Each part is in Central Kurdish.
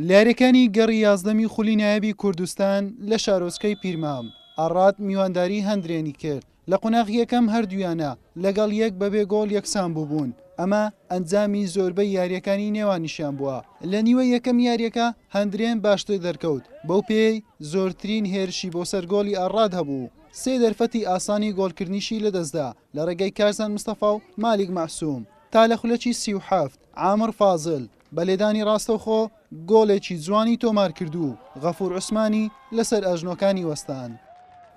لە یارییەکانی گەڕی یازدەمی خولی نایابی کوردستان لە شارۆچکەی پیرمام ئاڕات میوانداری هەندرێنی کرد لە قوناغی یەکەم هەردوویانە لەگەڵ یەک بەبێ گۆڵ یەکسان بووبوون ئەمە ئەنجامی زۆربەی یارییەکانی نێوانیشیان بووە لە نیوەی یەکەمی یارییەکە هەندرێن باشتر دەرکەوت بەو پێیەی زۆرترین هێرشی بۆ سەر گۆڵی ئاڕات هەبوو سێ دەرفەتی ئاسانی گۆڵکردنیشی لەدەستدا لە ڕێگەی کارزان مستەفا و مالیک مەعسوم تا لە خولەکی سی و حەفت عامر فازل بە لێدانی ڕاستەوخۆ گۆڵێکی جوانی تۆمارکرد و غەفور عوسمانی لەسەر ئەژنۆکانی وەستان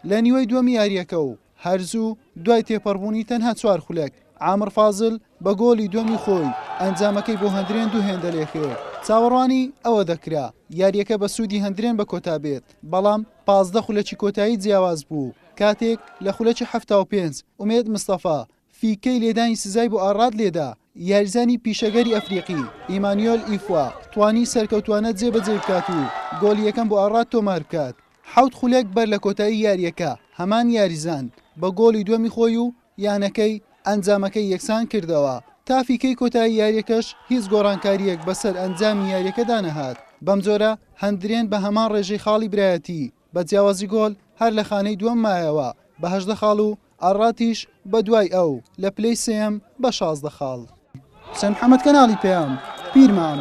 لە نیوەی دووەمی یارییەکە و هەرزوو دوای تێپەڕبوونی تەنها چوار خولەک عامر فازل بە گۆڵی دووەمی خۆی ئەنجامەکەی بۆ هەندرێن دوو هێندە لێکرد چاوەڕوانی ئەوە دەکرا یارییەکە بە سوودی هەندرێن بە کۆتا بێت بەڵام پازدە خولەکی کۆتایی جیاواز بوو، کاتێک لە خولەکی حەفتا و پێنج ئومێد مستەفا فیکەی لێدانی سزای بۆ ئاراد لێدا، یاریزانی پیشەگەری ئەفریقی ئیمانیۆل ئیفوا توانی سەرکەوتووانە جێبەجێی بکات و گۆڵی یەکەم بۆ ئاراد تۆمار بکات. حەوت خولەک بەر لە کۆتایی یارییەکە هەمان یاریزان بە گۆڵی دووەمی خۆی و یانەکەی ئەنجامەکەی یەکسان کردەوە، تا فیکەی کۆتایی یارییەکەش هیچ گۆڕانکارییەک بەسەر ئەنجامی یارییەکەدا نەهات، بەمجۆرە هەندرێن بە هەمان ڕێژەی خاڵی برایەتی بە جیاوازی گۆڵ هەر لە خانەی دووەم مایەوە بە هەژدە خاڵ و ئارڕاتیش بە دوای ئەو لە پلەی سێیەم بە شازدە خاڵ. حوسێن محەمەد کەناڵی پەیام، پیرمام.